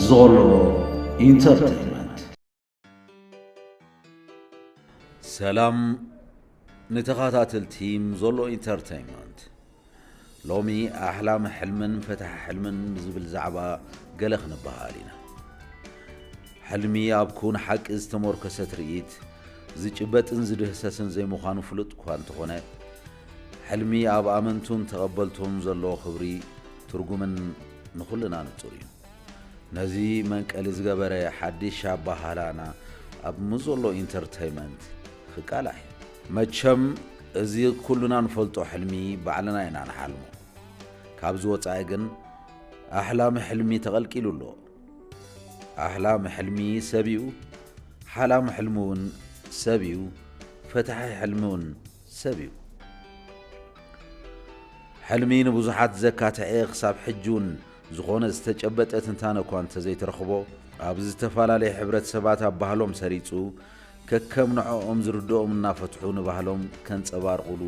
ዞሎ ኢንተርቴይንመንት ሰላም ንተኸታተልቲ ዞሎ ኢንተርቴይንመንት ሎሚ ኣሕላም ሕልምን ፈታሕ ሕልምን ብዝብል ዛዕባ ገለ ክንበሃል ኢና ሕልሚ ኣብ ኩን ሓቂ ዝተሞርከሰ ትርኢት ዝጭበጥን ዝድህሰስን ዘይምዃኑ ፍሉጥ እኳ እንተኾነ ሕልሚ ኣብ ኣመንቱን ተቐበልቱን ዘለዎ ክብሪ፣ ትርጉምን ንኹልና ንጹር እዩ። ነዚ መንቀሊ ዝገበረ ሓዲሽ ኣባሃህላና ኣብ ምዞሎ ኢንተርተይመንት ክቃላሕ እዩ። መቸም እዚ ኩልና ንፈልጦ ሕልሚ ባዕልና ኢና ንሓልሞ። ካብዚ ወጻኢ ግን ኣሕላሚ ሕልሚ ተቐልቂሉ ኣሎ። ኣሕላሚ ሕልሚ ሰብ እዩ፣ ሓላሚ ሕልሚ እውን ሰብ እዩ፣ ፈታሒ ሕልሚ እውን ሰብ እዩ። ሕልሚ ንብዙሓት ዘካትዔ ክሳብ ሕጂውን ዝኾነ ዝተጨበጠ ትንታነ እኳ እንተዘይተረኽቦ ኣብ ዝተፈላለየ ሕብረተሰባት ኣብ ባህሎም ሰሪፁ ከከም ንዐኦም ዝርድኦም እናፈትሑ ንባህሎም ከንፀባርቑሉ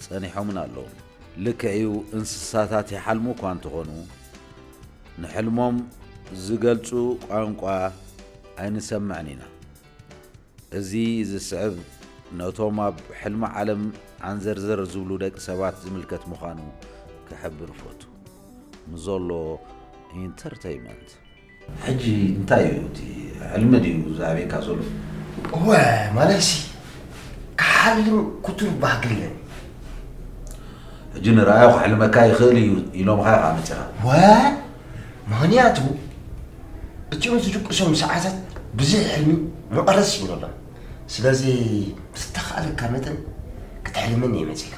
ፀኒሖምን ኣለዉን። ልክዕ እዩ እንስሳታት ይሓልሙ እኳ እንተኾኑ ንሕልሞም ዝገልፁ ቋንቋ ኣይንሰምዕን ኢና። እዚ ዝስዕብ ነቶም ኣብ ሕልሚ ዓለም ዓንዘርዘር ዝብሉ ደቂ ሰባት ዝምልከት ምዃኑ ክሕብር እፈቱ። ንዞሎ ኢንተርተይመንት። ሕጂ እንታይ እዩ እቲ ሕልሚ ድዩ ዝኣብየካ ዞሎ? እወ ማለይሲ ክሓልም ኩቱር ባህጊ ኣለኒ። ሕጂ ንርኣዮ ክሕልመካ ይኽእል እዩ ኢሎምኻ ኢኻ መጺኻ። እወ ምክንያቱ እቲኦም ዝድቅሶም ሰዓታት ብዙሕ ሕልሚ መቐረስ ይብለሎም ስለዚ ብዝተኻእለካ መጠን ክትሕልምን እየ መፂእካ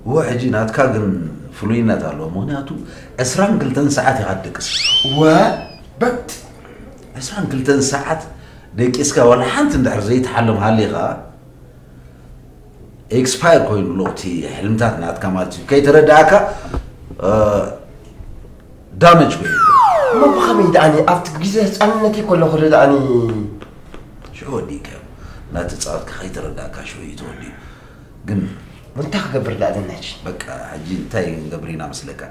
እወ ሕጂ ናትካ ግን ፍሉይነት ኣለዎ ምክንያቱ ዕስራን ክልተን ሰዓት ኢኻ ትደቅስ እወ በት ዕስራን ክልተን ሰዓት ደቂስካ ዋላ ሓንቲ እንድሕር ዘይትሓልም ሃሊኻ ኤክስፓየር ኮይኑ ኣሎ እቲ ሕልምታት ናትካ ማለት እዩ ከይተረዳእካ ዳመጅ ኮይኑ እሞ ብኸመይ ደኣኒ ኣብቲ ግዜ ህፃንነተይ ከለኹ ዶ ደኣኒ ሽዑ ወዲእካ እዩ እናተፃወትካ ከይተረዳእካ ሽዑ እዩ ተወዲኡ ግን እንታይ ክገብር ደኣ ኣለና ሕጂ በቃ ሕጂ እንታይ ክንገብር ኢና መስለካ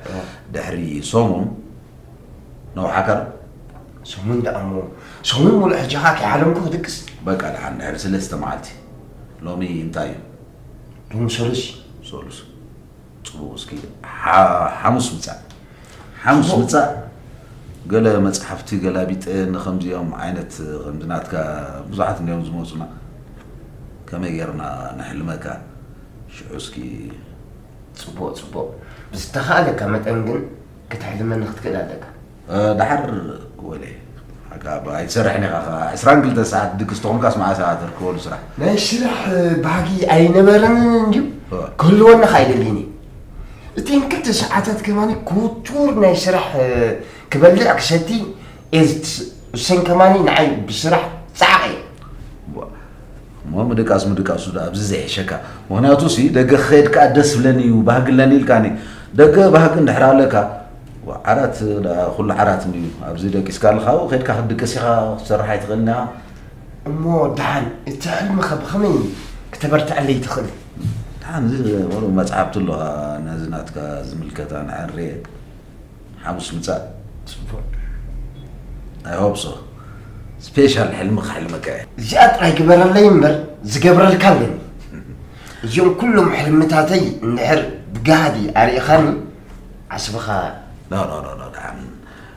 ድሕሪ ሰሙን ነውሓካ ዶ ሰሙን ደኣ እሞ ሰሙን ሙሉእ ሕጂ ከዓ ከይሓለምኩ ክድቅስ በቃ ደሓን ድሕሪ ሰለስተ መዓልቲ ሎሚ እንታይ እዩ? ሎሚ ሰሉስ እዩ። ሰሉስ ጽቡቕ እስኪ ሓሙስ ምጻእ ሓሙስ ምጻእ ገለ መጽሓፍቲ ገላቢጠ ንከምዚኦም ዓይነት ከምዚ ናትካ ብዙሓት እንዲኦም ዝመጹና ከመይ ጌርና ንሕልመካ ሽዑ እስኪ ጽቡቕ ጽቡቕ ብዝተኻእለካ መጠን ግን ክትሕልመኒ ክትክእል ኣለካ ደሓር ወሌ ኣጋ እባ ኣይትሰርሕን ኢኻ ከኣ ዕስራን ክልተን ሰዓት ድግስ ተኾንካስ መዓስ ኢኻ ትርከበሉ ስራሕ ናይ ስራሕ ባህጊ ኣይነበረንን እንድዩ ክህልወና ከኣ ኣይደልይን እዩ እተን ክልተ ሰዓታት ከማኒ ክውቱር ናይ ስራሕ ክበልዕ ክሰቲ እየ እሰን ከማኒ ንዓይ ብስራሕ ፃዕቐ እየ እሞ ምድቃስ ምድቃሱ ዶ ኣብዚ ዘይሕሸካ ምክንያቱ ሲ ደገ ክኸይድ ከዓ ደስ ብለኒ እዩ ባህጊ ኣለኒ ኢልካኒ ደገ ባህጊ እንድሕር ኣለካ ዓራት ደኣ ኩሉ ዓራት እንድዩ ኣብዚ ደቂስካ ኣለካ ኣብኡ ከድካ ክትድቅስ ኢካ ክትሰርሕ ኣይትክእልን ኢካ። እሞ ደሓን እቲ ሕልምኸ ብኸመይ ክተበርትዐለይ ትኽእል? ደሓን እዚ ቁሩብ መጽሓፍቲ ኣለዋ ነዚ ናትካ ዝምልከታ ንዐሬ ሓሙስ ምጻእ። ጽቡቕ። ኣይ ሆፕ ሶ ስፔሻል ሕልሚ ክሕልመካ እየ። እዚኣ ጥራይ ግበረለይ እምበር ዝገብረልካ ኣለኒ። እዚኦም ኩሎም ሕልምታተይ እንድሕር ብጋህዲ ኣርኢኻኒ ዓስብኻ ኖኖኖኖ ድሓን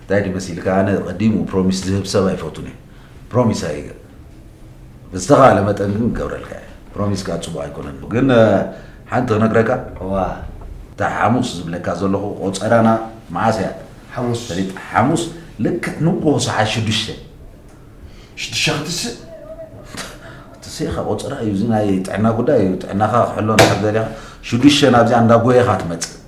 እንታይ ድዩ መሲልካ ኣነ ቀዲሙ ፕሮሚስ ዝህብ ሰብ ኣይፈቱን እየ ፕሮሚስ ኣይገ ብዝተኻለ መጠን ግን ገብረልካ እየ ፕሮሚስ ከኣ ጽቡቕ ኣይኮነን ግን ሓንቲ ክነግረካ እዋ እታ ሓሙስ ዝብለካ ዘለኹ ቆጸራና መዓስ እያ ሓሙስ ፈሊጥ ሓሙስ ልክዕ ንግሆ ሰዓት ሽዱሽተ ሽዱሽተ ክትስእ ትስኢኻ ቆጸራ እዩ እዚ ናይ ጥዕና ጉዳይ እዩ ጥዕናኻ ክሕሎ ንሓዘር ኢኻ ሽዱሽተ ናብዚኣ እንዳጎየኻ ትመጽእ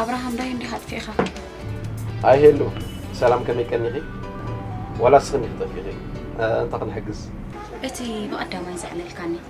ኣብርሃም ዳይ እንዲኻ ኣጥፊእኻ ኣይ ሄሉ ሰላም ከመይ ቀኒኺ ዋላ ስኽን ይኽጠፊኺ እንታይ ክንሕግዝ እቲ ብቐዳማይ ዘዕለልካኒ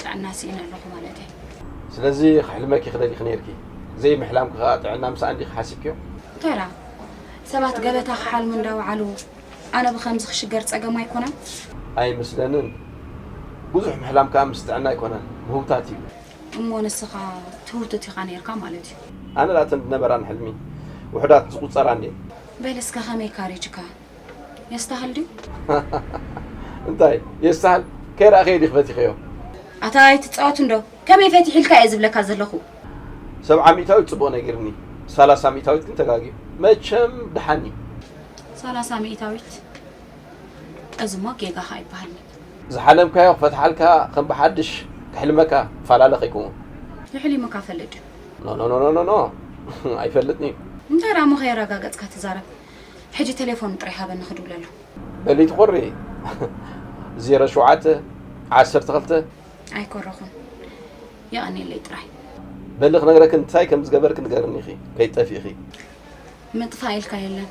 ጥዕና ሲኢነ ኣለኹ ማለተይ። ስለዚ ክሕልመኪ ክደሊኪ ነይርኪ ዘይ ምሕላምኪ ከኣ ጥዕና ምሳኣ እንዲኪ ሓሲብኪዮ? እንታይ ደኣ ሰባት ገበታ ክሓልሙ እንዳ ወዓሉ ኣነ ብከምዚ ክሽገር ጸገም ኣይኮነን? ኣይመስለንን ብዙሕ ምሕላም ከኣ ምስ ጥዕና ኣይኮነን ምህውታት እዩ። እሞ ንስካ ትህውትት ኢካ ነይርካ ማለት እዩ። ኣነ ደኣ እተን ዝነበራኒ ሕልሚ ውሑዳት ዝቁጸራ እንድየን። በል እስከ ከመይ ካሪጅካ የስተሃል ድዩ? እንታይ የስተሃል ከይረኣኽዮ ዲኺ ፈቲኽዮ? ኣታ ኣይትጻወት እንዶ ከመይ ፈቲሕ ኢልካ እየ ዝብለካ ዘለኹ። ሰብዓ ሚእታዊት ጽቡቕ ነጊርኒ ሳላሳ ሚእታዊት ግን ተጋግዩ መቸም ደሓን እዩ። ሳላሳ ሚእታዊት እዚ እሞ ጌጋኻ ኣይበሃልን'ዩ። ዝሓለምካዮ ክፈትሓልካ ከም ብሓድሽ ክሕልመካ ፋላለ ከይከውን። የሕሊሙካ ፈልጥ ድዩ? ኖኖኖኖኖ ኣይፈልጥን'ዩ። እንታይ ደኣሞ ከየረጋገጽካ ትዛረብ ሕጂ ተሌፎኑ ጥራይ ሃበኒ ክድውለሉ። በሊ ትኩሪ ዜሮ ሸውዓተ ዓሰርተ ክልተ። ኣይኮረኹን የቀኔለይ ጥራይ። በሊ ክነግረኪ እንታይ ከም ዝገበርኪ ንገርኒ ኢኺ ከይትጠፊኢኺ። ምጥፋእ ኢልካ የለን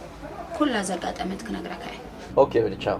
ኩላ ዘጋጠመት ክነግረካ እየ። ኦኬ በሊ ቻው።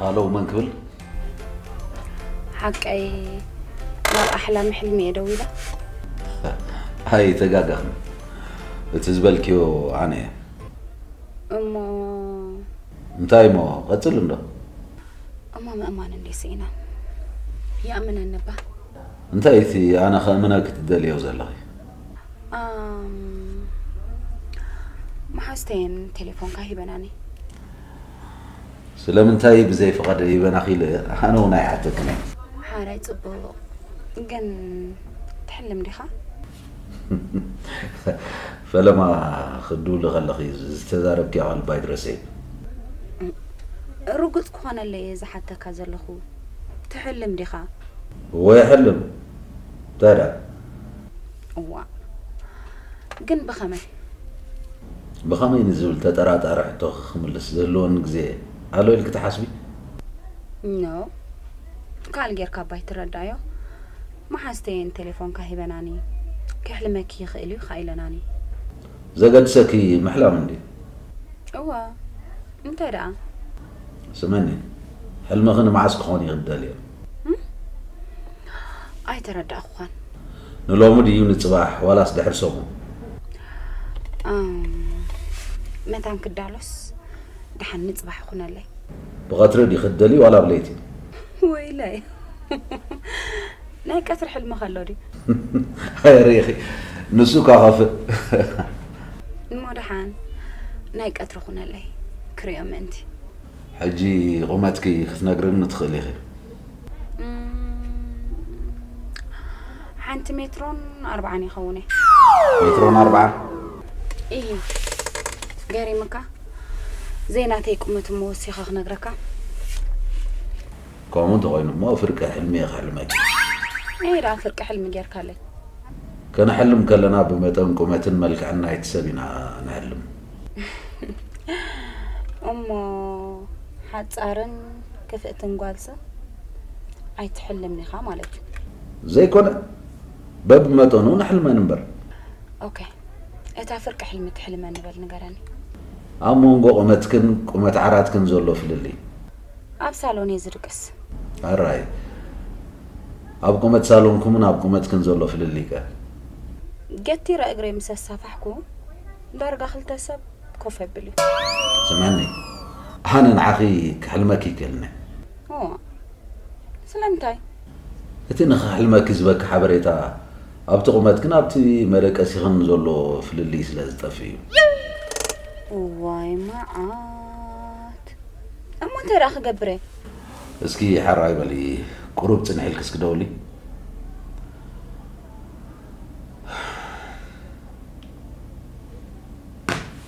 ሃሎ መን ክብል ሓቀይ ናብ ኣሕላሚ ሕልሚ እየ ደዊላ ኣይ ተጋገኽን እቲ ዝበልክዮ ኣነ እየ እሞ እንታይ እሞ ቀፅል እንዶ እሞ ምእማን እንዴ ስኢና ይኣምነኒ እባ እንታይ እዩ እቲ ኣነ ከእምነኪ ትደልዮ ዘለኺ ኣም፣ መሓዝተየን ቴሌፎንካ ሂበናኒ ስለምንታይ ብዘይ ፍቓድ ይበናኺ ኢለ ኣነ እውን ኣይሓተክን እየ ሓራይ ጽቡቕ ግን ትሕልም ዲኻ ፈለማ ክትድውሊ ከለኺ ዝተዛረብክያ ቃል ባይ ትረስዒ። ርጉጽ ክኾነለይ እየ ዝሓተካ ዘለኹ። ትሕልም ዲኻ? እወ ይሕልም። እንታይ ደኣ? እዋእ! ግን ብኸመይ? ብኸመይ ንዝብል ተጠራጣሪ ሕቶኺ ክምልስ ዝህልወኒ ግዜ ኣሎ ኢልኪ ትሓስቢ? ኖእ! ካልእ ጌርካ እባ ኣይትረዳዮ። መሓዝተየን ቴሌፎንካ ሂበናኒ ከሕልመኪ ይኽእል እዩ ኻኣ ኢለናኒ። ዘገድሰኪ ምሕላም እንድዩ። እወ እንታይ ደኣ? ስምዕኒ ሕልምኺ ንመዓስ ክኾን እዩ እትደልዮ? እም ኣይተረዳእኹኻን። ንሎሚ ድዩ ንጽባሕ ዋላስ ድሕሪ ሰሙን? እም መታን ክዳሎስ ደሓን ንጽባሕ ይኹነለይ። ብቐትሪ ዲኺ እትደልዪ ዋላ ብለይቲ? ወይለይ ናይ ቀትሪ ሕልሚ ከሎ ድዩ ሪኢኺ ንሱ እኳ ከፍእ እሞ ደሓን ናይ ቀትሪ ኩነለይ ክሪኦ ምእንቲ ሕጂ ቁመትኪ ክትነግርኒ ትኽእል ኢኺ ሓንቲ ሜትሮን ኣርባዓን ይኸውን ሜትሮን ኣርባዓን እዩ ገሪምካ ዘይናተይ ቁመት እሞ ወሲኸ ክነግረካ። ከምኡ እንተኾይኑ እሞ ፍርቂ ሕልሚ እየ ክሕልመኪ። ነየይ ደኣ ፍርቂ ሕልሚ ጌርካለይ? ክንሕልም ከለና ብመጠን ቁመትን መልክዕን ናይቲ ሰብ ኢና ንሕልም። እሞ ሓጻርን ክፍእትን ጓልሰ ኣይትሕልምን ኢኻ ማለት እዩ። ዘይኮነ በብ መጠኑ ንሕልመን እምበር። ኦከ እታ ፍርቂ ሕልሚ ትሕልመ ንበል ንገረኒ። ኣብ ሞንጎ ቁመትክን ቁመት ዓራትክን ዘሎ ፍልልይ። ኣብ ሳሎን እየ ዝድቅስ። ኣራይ ኣብ ቁመት ሳሎንኩምን ኣብ ቁመትክን ዘሎ ፍልልይ ከ። ገቲረ እግረይ ምስ ኣሳፋሕኩ ዳርጋ ክልተ ሰብ ኮፍ የብል እዩ። ስምዕኒ ኣነ ንዓኺ ክሕልመኪ ይክእልኒ። እዎ። ስለምንታይ? እቲ ንኽሕልመኪ ዝበኪ ሓበሬታ ኣብቲ ቁመትክን ኣብቲ መደቀሲኽን ዘሎ ፍልልይ ስለ ዝጠፍእ እዩ። እዋይ መዓት! እሞ እንታይ ደኣ ክገብር እየ? እስኪ ሐራይ በሊ ቁሩብ ጽንሕ ኢልኪ እስኪ ደውሊ።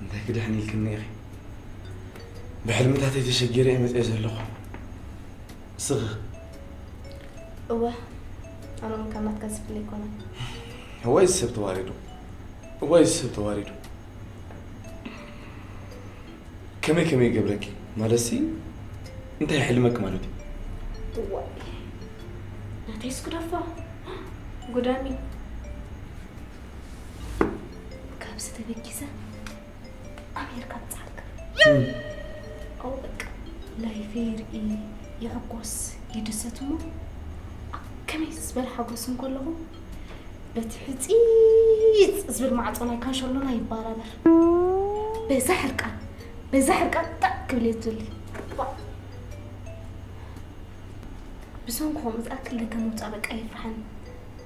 እንታይ ክድሕን ኢልክኒ ኢኺ ብሕልምታተይ ተሸጊረ እየ መፅአ ዘለኹ እስኺ እወ ኣነ እውን ካብ ናትካ ዝፍለ ይኮነ ወይ ሰብ ተዋሪዱ ወይ ሰብ ተዋሪዱ ከመይ ከመይ ይገብረኪ ማለት ሲ እንታይ ሕልመክ ማለት እዩ እዋ ናተይስ ጉዳፋ ጉዳሚ ካብዚ ተበጊሰ ኣሜሪካ ምፅዓልካ ኣብኡ በቃ ላይፈ ይርኢ ይሕጎስ ይድሰት እሞ ኣብ ከመይ ዝበለ ሓጎስ እንከለኹ በቲ ሕፂፅ ዝብል ማዕፆ ናይ ካንሸሎና ይባራበር በዛ ሕርቃን በዛ ሕርቃን ጣዕ ክብል እየ ዝዘሊ ብሰንኩ ከምኡ ዝኣክል ደገ ምውፃእ በቃ የፍርሓኒ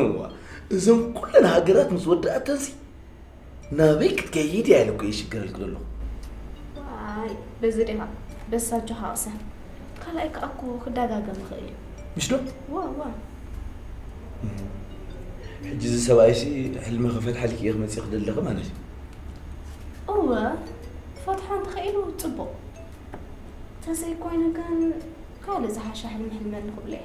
እዋ እዞም ኩለን ሃገራት ምስ ወዳእተንሲ ናበይ ክትከይድ እያ ኢለ እኮ ይሽገረልክ ዘለኹ በዚ ዲኻ በሳቸው ሃቕሰ ካልኣይ ከዓ እኮ ክደጋገም ይኽእል እዩ ምሽ ዶ ዋ ዋ ሕጂ እዚ ሰብኣይሲ ሕልሚ ክፈትሓልክ እየ ክመፅእ ክደለኺ ማለት እዩ እወ ክፈትሖ እንተኽኢሉ ፅቡቕ ተዘይኮይኑ ግን ካልእ ዝሓሸ ሕልሚ ሕልመኒ ክብሎ እየ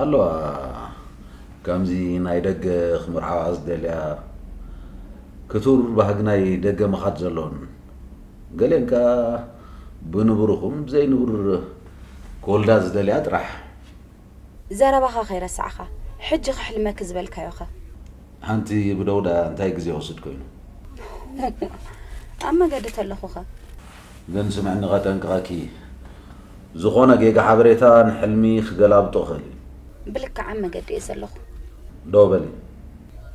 ኣለዋ ከምዚ ናይ ደገ ክምርዓዋ ዝደልያ ክቱር ባህጊ ናይ ደገ ምኻድ ዘሎን ገሌን ከኣ ብንቡርኹም ብዘይ ንቡር ክወልዳ ዝደልያ ጥራሕ። ዘረባኻ ከይረሳዕኻ ሕጂ ከሕልመኪ ዝበልካዮኸ? ሓንቲ ብደውዳ እንታይ ግዜ ወስድ ኮይኑ? ኣብ መገዲ ተለኹኸ? ግን ስምዕኒ ከጠንቅቀኪ ዝኮነ ጌጋ ሓበሬታ ንሕልሚ ክገላብጦ ይክእል እዩ። ብልክዓ መገዲ እየ ዘለኩ። ዶ በሊ።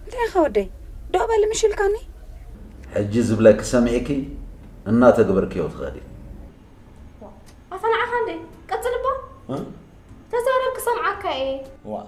እንታይ ኢካ ወደይ ዶ በሊ ምሽ ኢልካኒ። ሕጂ ዝብለኪ ሰሚዕኪ እናተግበርክዮ ትከዲ። ዋእ ኣታ ንዓካ እንድየ ቀጽል'ባ ተዛረብ ክሰምዓካ እየ። ዋእ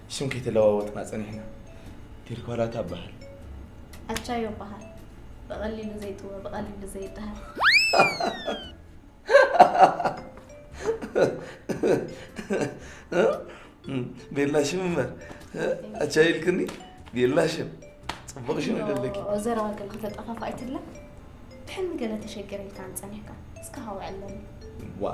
ሽም ከይተለዋወጥና ፀኒሕና ቴዲ ኳላታ እበሃል ኣቻዮ እበሃል ብቐሊሉ ዘይጥወ ብቐሊሉ ዘይደሃል ቤላ ሽም እምበር ኣቻዮ ኢልክኒ ቤላ ሽም ፅቡቕ ሽም ይደለኪ ዘረባ ገለ ከተጠፋፍ ኣይትለ ትሕኒ ገለ ተሸገረ ኢልካ ንፀኒሕካ እስከ ሃውዕ ኣለኒ ዋ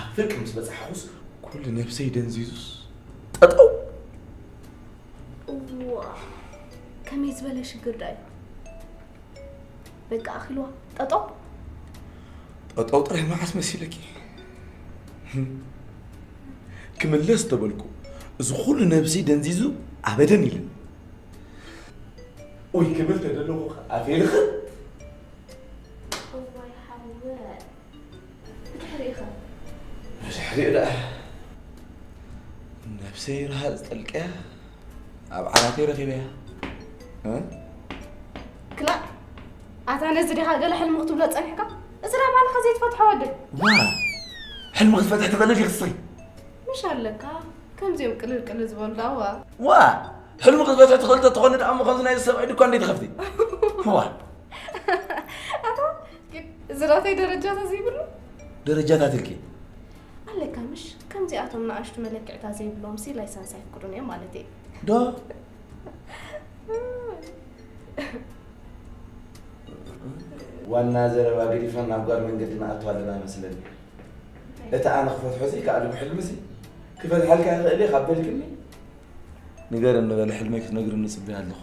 ኣብ ፍርቂ ምስ በጻሕኹስ ኩሉ ነብሰይ ደንዚዙስ ጠጠው እዋ ከመይ ዝበለ ሽግር ዳዩ በቃ ኣኺልዋ ጠጠው ጠጠው ጥራይ መዓስ መሲለኪ ክምለስ ተበልኩ እዚ ኩሉ ነብሲ ደንዚዙ ኣበደን ኢልን ወይ ክብል ተደለኹ ኣፌልኽን ብድሕሪኢኻ ብድሕሪኡ ደኣ ነብሰይ ረሃፅ ጠልቀያ ኣብ ዓራተይ ረኺበያ ክላእ ኣታ ነዚ ዲኻ ገለ ሕልሚ ክትብሎ ፀኒሕካ እዚ ዳ ባልኻ ዘይትፈትሖ ወዲ ዋ ሕልሚ ክትፈትሕ ትኽእል ዲኺ ክሰይ ምሽ ኣለካ ከምዚኦም ቅልል ቅልል ዝበሉ ዳዋ ዋ ሕልሚ ክትፈትሕ ትኽእል ተትኾኒ ደኣ እሞ ከምዚ ናይ ሰብኣይ ድኳ እንዴት ኸፍቲ ዋ እዚ ናተይ ደረጃታት ዘይብሉ ደረጃታት ኢልኪ ኣለካ ምሽ ከምዚኣቶም ንኣሽቱ መለክዕታት ዘይብሎም ሲ ላይሰንስ ኣይፍቅዱን እዮም ማለት እዩ ዶ ዋና ዘረባ ገዲፍና ናብ ጓል መንገዲ ንኣቱ ኣለና መስለኒ እቲ ኣነ ክፈትሖ ዘይከኣልኩ ሕልሚ እዚ ክፈትሓልካ ይኽእል እየ ካብ በልክኒ ንገር እንበለ ሕልመይ ክትነግርኒ ፅበያ ኣለኹ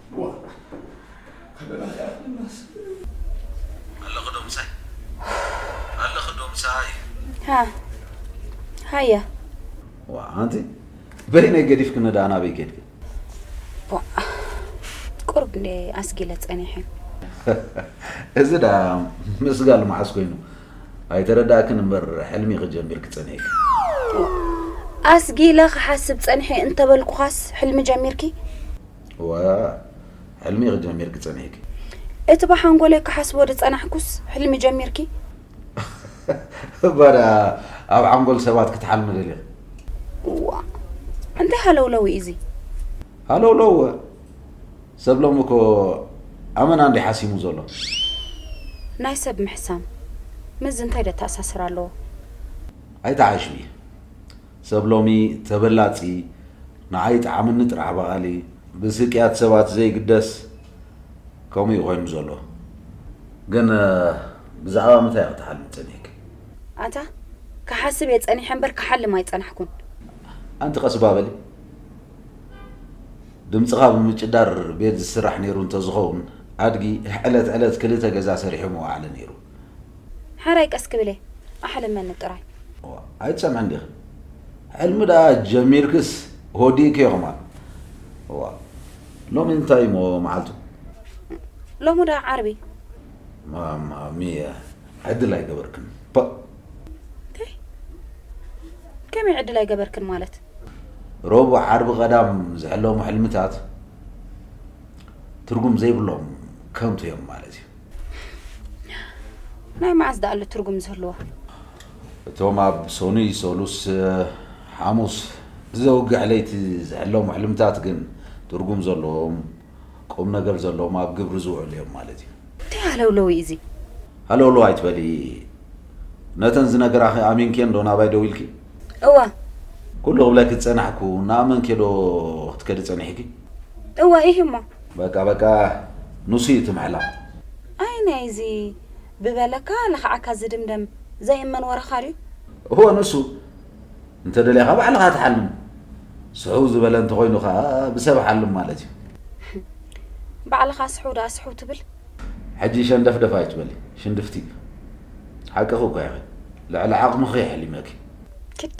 በይነይ ገዲፍክኒ ደኣ ናበይ ከድኪ? ቁሩብ እንደ ኣስጊለ ፀኒሐ። እዚ ደኣ ምስጋል መዓስ ኮይኑ ኣይተረዳእክን እምበር ሕልሚ ክጀምር ክፀኒሐ ኣስጊለ ክሓስብ ፀኒሐ እንተበልኩኻስ ሕልሚ ጀሚርኪ? እወ ሕልሚ ኢኺ ጀሚርኪ ጸኒሕኪ። እቲ ብሓንጎለይ ክሓስቦ ዝጸናሕኩስ ሕልሚ ጀሚርኪ? እባ ደኣ ኣብ ሓንጎል ሰባት ክትሓልሚ ደሊኺ? እዋእ እንታይ ሃለውለው እዩ እዚ? ሃለውለው እወ ሰብ ሎሚ እኮ ኣመና እንድዩ ሓሲሙ ዘሎ። ናይ ሰብ ምሕሳም ምስዚ እንታይ ዘተኣሳስር ኣለዎ? ኣይትዓሽዊ። ሰብ ሎሚ ተበላጺ ንዓይ ይጥዓመኒ ጥራሕ በሃሊ ብስቅያት ሰባት ዘይግደስ ከምኡ እዩ ኮይኑ ዘሎ ግን ብዛዕባ ምታይ ኢኺ ትሓልሚ ጸኒሕኪ? ኣታ ክሓስብ እየ ጸኒሐ እምበር ክሓልም ኣይጸናሕኩን። ኣንቲ ቀስባ በሊ ድምጽኻ ብምጭዳር ቤት ዝስራሕ ኔሩ እንተዝኸውን ኣድጊ ዕለት ዕለት ክልተ ገዛ ሰሪሑ ምወዓለ ኔሩ። ሐራይ ቀስ ክብል እየ ኣሕልመኒ ጥራይ። እዋእ ኣይትሰምዕን ዲኺ ሕልሚ ደኣ ጀሚርክስ ወዲእክዮ ከማን እዋእ ሎሚ እንታይ እሞ መዓልቱ። ሎሚ ደኣ ዓርቢ። ማማሚየ ዕድል ኣይገበርክን ፐእ። እንታይ ከመይ ዕድል ኣይገበርክን ማለት። ረቡዕ ዓርቢ ቀዳም ዝሕለሙ ሕልምታት ትርጉም ዘይብሎም ከንቱ እዮም ማለት እዩ። ናይ መዓስ ደኣሉ ትርጉም ዝህልዎ እቶም ኣብ ሰኑይ ሰሉስ ሓሙስ ዘውግሕ ለይቲ ዝሕለሙ ሕልምታት ግን ትርጉም ዘለዎም ቁም ነገር ዘለዎም ኣብ ግብሪ ዝውዕሉ እዮም ማለት እዩ እንታይ ሃለውለው እዩ እዚ ሃለውለው ኣይትበሊ ነተን ዝነገራኺ ኣሚንኬን ዶ ናባይ ደው ኢልኪ እወ ኩሉ ክብለኪ ዝፀናሕኩ እናኣመንኬ ዶ ክትከዲ ፀኒሕኪ እወ ኢሂ እሞ በቃ በቃ ኑሱ እዩ እቲ ምዕላቕ። ኣይ ናይዚ ብበለካ ለኽዓካ ዝድምደም ዘይእመን ወረኻ ድዩ? እወ ኑሱ። እንተ ደሊኻ ባዕልኻ ትሓልም። ስሕው ዝበለ እንተ ኾይኑ ከኣ ብሰብ ሓልም ማለት እዩ። ባዕልኻ ስሕው ደኣ ስሕው ትብል? ሕጂ ሸንደፍደፍ ኣይትበሊ ሽንድፍቲ። ሓቅኺ እኳ ኢኺ። ልዕሊ ዓቕምኺ ኣሕሊመኪ። ክድ።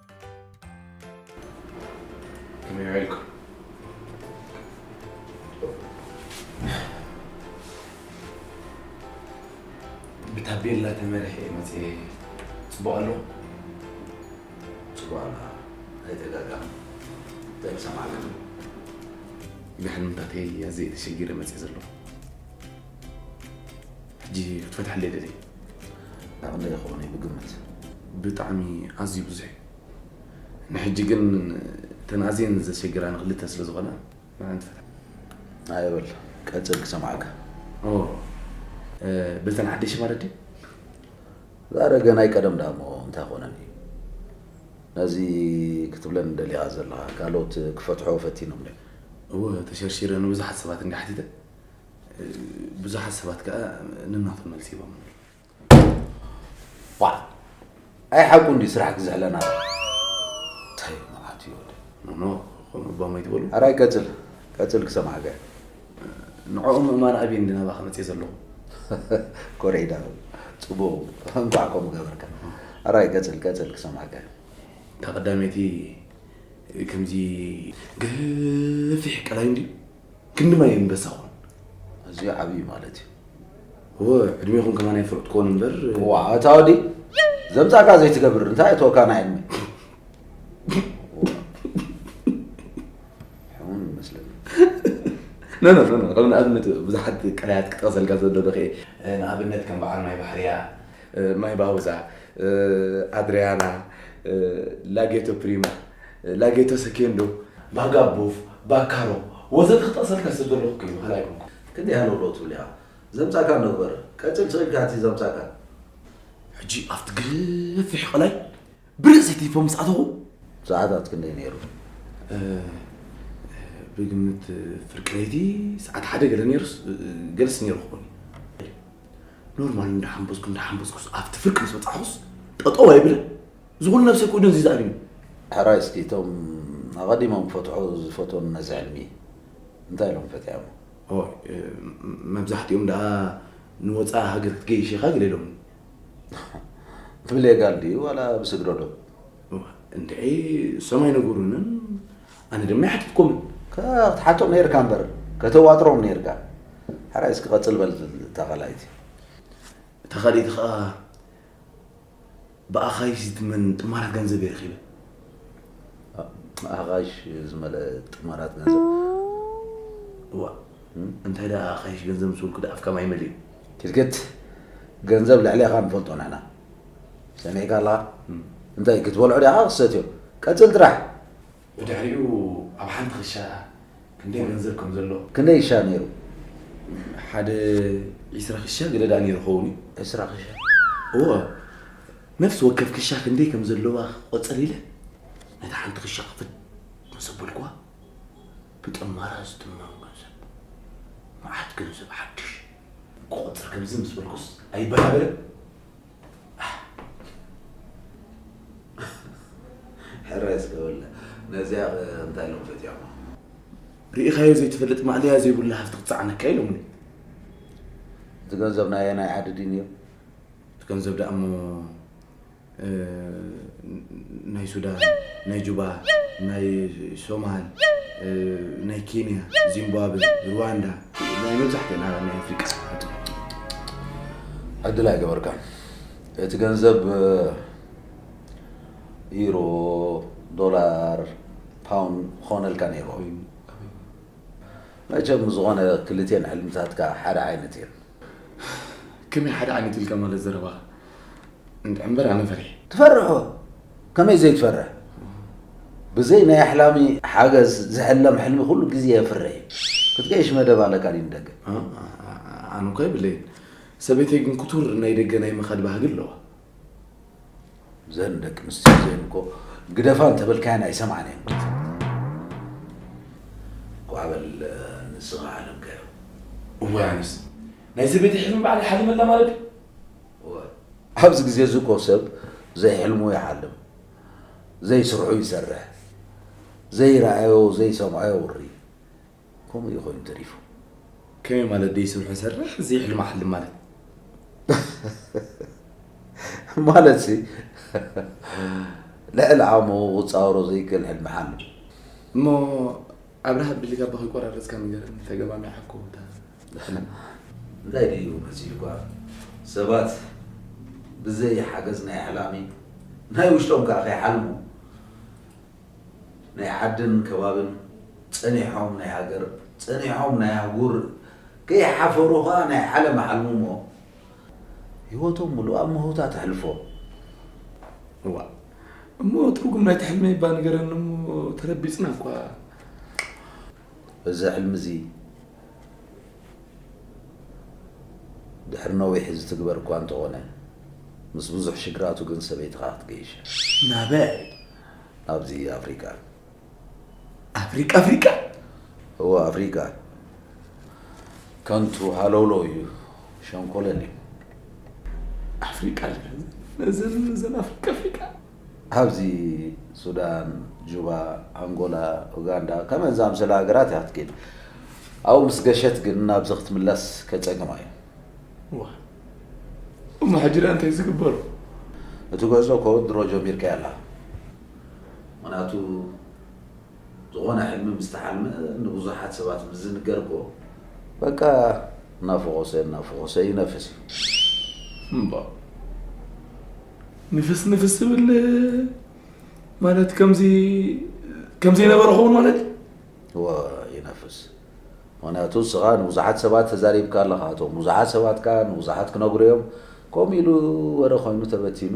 ብታቤላ ተመርሐ መፅ ፅቡቅ ኣሎ ፅቡቅ ኣላ ኣይተጋጋም እንታይ ምሰማዕ ኣለኒ ንሕልምታተይ ኣዘየ ተሸጊረ መፅእ ዘለኹ ሕጂ ክትፈትሐለይ ደልየ። ናይ ክንደይ ይኸውን እዩ ብግምት? ብጣዕሚ ኣዝዩ ብዙሕ እዩ። ንሕጂ ግን እተን ኣዝየን ዘሸግራኒ ክልተ ስለ ዝኾና ንዐን ትፈትሓ። ኣየ በል ቀጽል ክሰምዓካ። ኦ በተን ሓደሽ ማለት ድዩ? ዛረገ ናይ ቀደም ደኣ እሞ እንታይ ኮነኒ። ነዚ ክትብለኒ ደሊኻ ዘለኻ ካልኦት ክፈትሖ ፈቲኖም ድዮም? እወ ተሸርሺረ ንብዙሓት ሰባት እንድየ ሓቲተ። ብዙሓት ሰባት ከዓ ንናቱ መልሲ ይቦም ዋ ኣይ ሓቁ እንዲ ስራሕ ክዝሕለና እንታይ መዓት እዩ ወደ ኖኖ ከምኡ ባሞ ይትበሉ ኣራይ ቀፅል ቀፅል ክሰማዕከ ንዕኡ ምእማን ኣብየ እንዲ ናባኸ መፅእ ዘለኹ ኮሪዒዳ ፅቡቅ እንኳዕ ከምኡ ገበርካ ኣራይ ቀፅል ቀፅል ክሰማዕከ ካብ ቀዳመይቲ ከምዚ ገፊሕ ቀላይ እንዲ ክንዲ ማይ እምበሳ ኾን ኣዝዩ ዓብዩ ማለት እዩ እወ ዕድሜኹም ከማን ኣይፈልጥ ኮን እምበር ዋ እታ ወዲ ዘምፃእካ ዘይትገብር እንታይ እተወካ ናይ ዕድመ ሕሙም ይመስለኒ ኖ ኖ ኖ ከም ንኣብነት ብዙሓት ቀላያት ክጠቕሰልካ ዘለዎ ኸ ንኣብነት ከም በዓል ማይ ባሕርያ ማይ ባውዛ ኣድርያና ላጌቶ ፕሪማ ላጌቶ ሰኬንዶ፣ ቫጋቦቭ፣ ቫካሮ ወዘተ ክጠቕሰልካ ዝተደለኹ ክይኑ ካልእ ኣይኮንኩን። ክንደይ ሃለውለው ትብል ኢኻ ዘምጻእካ ነበር ቀጽል ስቂልካ እቲ ዘምጻእካ። ሕጂ ኣብቲ ገፊሕ ቐላይ ብርእሲ ቲፎ ምስ ኣተኹ። ሰዓታት ክንደይ ነይሩ? ብግምት ፍርቂ ለይቲ ሰዓት ሓደ ገለ ነይሩስ ገለስ ነይሩ ክኾን ኖርማል እንዳሓምበዝኩ እንዳሓምበዝኩስ ኣብቲ ፍርቂ ምስ በጻሕኹስ ጠጠው ኣይብልን እዚ ኩሉ ነብሰይ ኩይኑ እዚ ዝኣልዩ። ሕራይ እስኪ እቶም ኣቐዲሞም ክፈትሑ ዝፈትዉን ነዚ ሕልሚ እንታይ ኢሎም ፈቲሖሞ? ኦይ መብዛሕቲኦም ደኣ ንወጻኢ ሃገር ክትገይሽ ኢኻ ገለ ኢሎምኒ። ብሌጋል ድዩ ዋላ ብስግረ ዶብ? እንድዒ እሶም ኣይነገሩንን ኣነ ድማ ኣይሓተትኩምን። ክትሓቶም ነይርካ እምበር ከተዋጥሮም ነይርካ። ሕራይ እስኪ ቀጽል በል እታ ካልኣይቲ። እታ ካልኣይቲ ከኣ? ብኣኻይሽ ዝትመን ጥማራት ገንዘብ እየ ረኺበ። ኣኻይሽ ዝመልአ ጥማራት ገንዘብ? እዋእ፣ እንታይ ደኣ ኣኻይሽ ገንዘብ ምስ በልኩ ደኣ ኣፍካ ማይ መሊኡ። ኪትኪት፣ ገንዘብ ልዕሌኻ ንፈልጦ ንሕና። ሰሚዕካ ኣለኻ? እንታይ፣ ክትበልዖ ዲኻ ክትሰትዮ? ቀጽል ጥራሕ! ብድሕሪኡ ኣብ ሓንቲ ክሻ ክንደይ ገንዘብ ከም ዘሎ። ክንደይ ክሻ ነይሩ? ሓደ ዕስራ ክሻ ገደዳ ነይሩ ክኸውን እዩ። ዕስራ ክሻ? እወ። ነፍሲ ወከፍ ክሻ ክንደይ ከም ዘለዋ ክቆጽር ኢለ ነታ ሓንቲ ክሻ ክፍት ምስ ኣበልኩዋ ብጠማራ ዝትመም ገንዘብ መዓት ገንዘብ ሓድሽ ክቆጽር ከምዚ ምስ በልኩስ ኣይበራበርን። ሕራይ ስከበለ ነዚያ እንታይ ኢሎም ፈትያሞ ርኢኻዮ ዘይትፈልጥ ማእለያ ዘይብሉ ሃፍቲ ክትፀዓነካ ኢሎምኒ እቲ ገንዘብ ናይ ኣየናይ ዓዲ ድዩ ነይሩ እቲ ገንዘብ ደኣ እሞ ናይ ሱዳን ናይ ጁባ ናይ ሶማል ናይ ኬንያ ዚምባብዌ ሩዋንዳ ናይ መብዛሕትና ናይ ኣፍሪቃ ሰባት ዕድል ኣይገበርካን እቲ ገንዘብ ኢሮ ዶላር ፓውንድ ክኾነልካ ነይሩ መቸም ዝኾነ ክልቴን ሕልምታትካ ሓደ ዓይነት እየን ከመይ ሓደ ዓይነት ኢልካ ማለት ዘረባ እንድዕምበር ኣነ ፈሪሕ ትፈርሑ ከመይ ዘይትፈርሕ ብዘይ ናይ ኣሕላሚ ሓገዝ ዝሕለም ሕልሚ ኩሉ ግዜ የፍርሕ እዩ ክትገይሽ መደብ ኣለካ ድዩ ንደገ ኣነ እኳ የብለይን ሰበይተይ ግን ክቱር ናይ ደገ ናይ ምኻድ ባህጊ ኣለዋ ዘን ደቂ ኣንስትዮ እዚአን እኮ ግደፋ እንተበልካየን ኣይሰምዓን እየን ኳዕ በል ንስኻ ሓለምካዮ እዋይ ኣነስ ናይ ሰበይተይ ሕልሚ ባዕለይ ሓሊመላ ማለት እዩ ኣብዚ ግዜ እዚ እኮ ሰብ ዘይሕልሙ ይሓልም፣ ዘይስርሑ ይሰርሕ፣ ዘይረኣዮ ዘይሰምዖ የውሪ ከምኡ እዩ ኮይኑ ተሪፉ። ከመይ ማለት ዘይስርሑ ይሰርሕ ዘይሕልሙ ይሓልም ማለት? ማለት ሲ ልዕሊ ዓቕሙ ክጻወሮ ዘይክእል ሕልሚ ይሓልም። እሞ ኣብርሃ ብድሌት ኣቦ ከይቆራረጽካ ንገረኒ ተገማሚዓ እኮ እታ ፍልም። እንታይ ድዩ መሲልኳ ሰባት ብዘይ ሓገዝ ናይ ኣሕላሚ ናይ ውሽጦም ከኣ ከይሓልሙ ናይ ዓድን ከባብን ጸኒሖም ናይ ሃገር ጸኒሖም ናይ ኣህጉር ከይሓፈሩ ከኣ ናይ ዓለም ኣሕልሙሞ ህይወቶም ሙሉእ ኣብ ምህውታ ተሕልፎ። እዋእ እሞ ትርጉም ናይቲ ሕልመይ እባ ንገረኒ እሞ ተረቢፅና እኳ። እዚ ሕልሚ እዚ ድሕሪ ነዊሕ ዝትግበር እኳ እንተኾነ ምስ ብዙሕ ሽግራቱ ግን ሰበይትኻ ክትገይሽ እያ። ናበይ? ናብዚ ኣፍሪቃ። ኣፍሪቃ ኣፍሪቃ እወ ኣፍሪቃ ከንቱ ሃለውሎ እዩ ሸንኮለል እዩ ኣፍሪቃ እዘን እዘን ኣፍሪቃ ኣፍሪቃ ኣብዚ ሱዳን ጁባ ኣንጎላ ኡጋንዳ ከመን ዝኣምሰለ ሃገራት እያ ክትከይድ ኣብኡ ምስ ገሸት ግን ናብዚ ክትምለስ ከፀግማ እዩ እዋ እሞ ሕጂ እንታይ ዝግበሩ እቲ ጉዕዞ ኮ ድሮ ጀሚርካዮ ኣላ ምኽንያቱ ዝኾነ ሕልሚ ምስ ተሓልመ ንብዙሓት ሰባት ምስ ዝንገር እኮ በቃ እናፈኾሰ እናፈኾሰ ይነፍስ እዩ እምባ ንፍስ ንፍስ ዝብል ማለት ከምዚ ከምዚ ነበረ ኸውን ማለት እዩ ይነፍስ ምክንያቱ እስኻ ንብዙሓት ሰባት ተዛሪብካ ኣለኻ እቶም ብዙሓት ሰባት ከዓ ንብዙሓት ክነግሩ እዮም ከምኡ ኢሉ ወረ ኮይኑ ተበቲኑ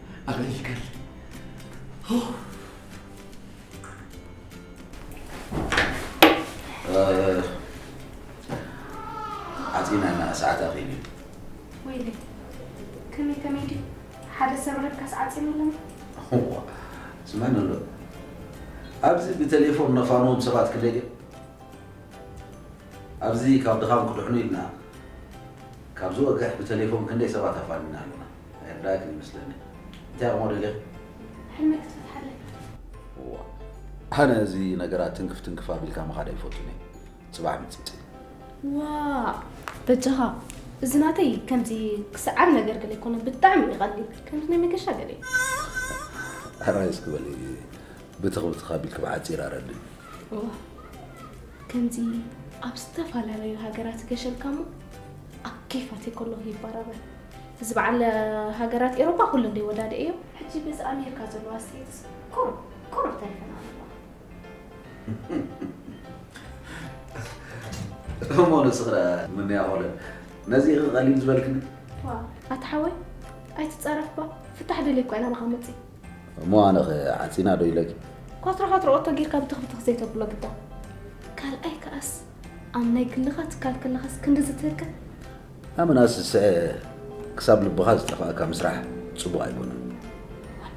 ኣገልግል ኣፅናና ሰዓት ኣኺሉ ወይለ ከመይ ከመይ ድዩ ሓደ ሰብ ረብካስ ዓፂኑ ኣለና ስማን ኣሎ ኣብዚ ብቴሌፎን ነፋኖም ሰባት ክለየ ኣብዚ ካብ ድኻም ክድሕኑ ኢልና ካብዚ ወግሕ ብቴሌፎን ክንደይ ሰባት ኣፋንና ኣለና ዕራግ ይመስለኒ እንታይ ኣቕሞ ደልኻ ሕልመይ ክትፈትሓለይ እዋ ኣነ እዚ ነገራት ትንክፍ ትንክፍ ኣቢልካ ምኻድ ኣይፈቱን እየ ፅባሕ ምፅፅ ዋ በጃኻ እዚ ናተይ ከምዚ ክስዓር ነገር ገለ ይኮነ ብጣዕሚ እዩ ቀሊል ከምዚ ናይ መገሻ ገለ እዩ ሕራይ እስኪ በሊ ብትኽ ብትኽ ኣቢልክ ብሓፂር ኣረድእ እዋ ከምዚ ኣብ ዝተፈላለዩ ሃገራት ገሸልካ እሞ ኣብ ኬፋት ከለኹ ይበራበር እዚ በዓል ሃገራት ኤሮጳ ኩለን ደይወዳድኤዮ። ሕጂ በዚ ኣሜርካ ዘሎ ኣስተያየትስ ቁሩብ ቁሩብ ተሪፈን ኣለዋ። እሞ ንስኺ ደኣ ምንያ ሆለን ነዚ ኢኺ ቀሊል ዝበልክኒ? ዋ ኣታ ሓወይ ኣይትጻረፍባ ፍታሕ ደልየ እኳ ኢና ናኻ መጺእ። እሞ ኣነኸ ዓጺና ዶ ኢለኪ? ኳትሮ ኳትሮ ኦቶ ጌርካ ብትኽብትኽ ዘይተብሎ ግዳ። ካልኣይ ከኣስ ኣብ ናይ ግልኻ ትካል ከለኻስ ክንድዚ ትህቅን? ኣመናስ ዝስዐ ክሳብ ልብኻ ዝጠፍኣካ ምስራሕ ጽቡቕ ኣይኮነን። ዋይ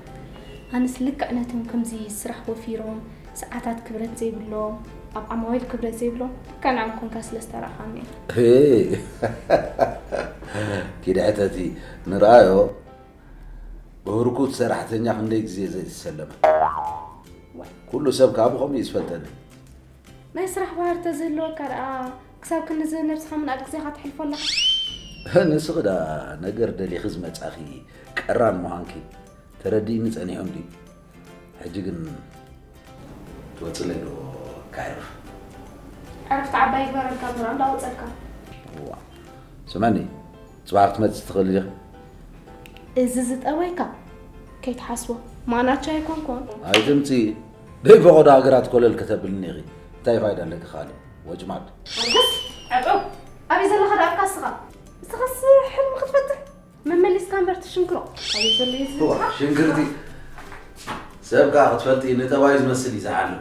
ኣነስ ልክዕ ነቶም ከምዚ ስራሕ ወፊሮም ሰዓታት ክብረት ዘይብሎም ኣብ ዓማዊል ክብረት ዘይብሎም ልክዕ ንዖም ኮንካ ስለ ዝተራእኻኒ እዩ። እይ ኪድ ሕተቲ ንርኣዮ ብህርኩት ሰራሕተኛ ክንደይ ግዜ ዘይተሰለመ። ዋይ ኩሉ ሰብ ከኣ ብኸምኡ እዩ ዝፈልጠኒ። ናይ ስራሕ ባህር ተዝህልወካ ደኣ ክሳብ ክንዚ ነብስኻ ምንኣድ ግዜኻ ተሕልፎ ኣለኻ። ንስኺ ደኣ ነገር ደሊኺ ዝመጻኺ ቀራን ምዃንኪ ተረዲእኒ ጸኒሑን ድዩ? ሕጂ ግን ትወጽለይ ዶ ከዕርፍ? ዕረፍቲ ዓባይ ይግበረልካ እምበር ኣንዳ ወጸልካ። እዋ ስመኒ ጽባሕ ክትመጽ ትኽእል ዲኻ? እዚ ዝጠወይካ ከይትሓስቦ ማናቻ ኣይኮንኮን። ኣይትምጺ ደይ ፈቐዶ ሃገራት ኮለል ከተብልኒ ኢኺ እንታይ ፋይዳ ኣለኪ ካልእ ወጭማድ። ርግስ ዕጡብ ኣበይ ዘለኻ ደኣ እካ እስኻ እስኻስ ሕልሚ ክትፈጥር መመሊስካ እምበር ትሽንክሮ ኣበይ ዘሎ እዩ እዚ ህዝብኻ? ሽንግርቲ ሰብ ከዓ ክትፈልጢ ንጠባዩ ዝመስል እዩ ዝሓልም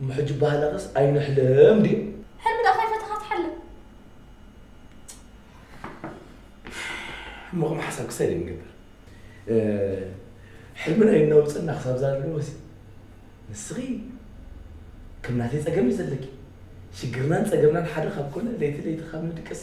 እሞ ሕጂ ባህላኸስ ኣይንሕለም ድዩ? ሕልሚ ደኣ ከይፈተኻ ትሓልም። እሞ ከም ሓሳብ ክሳይ ደይ ንገብር ሕልምና የናውፀና ክሳብ ዛለወሲ ንስኺ ከም ናተይ ፀገም እዩ ዘለኪ ሽግርናን ፀገምናን ሓደ ካብ ኮነ ለይቲ ለይቲ ካብ ንድቅስ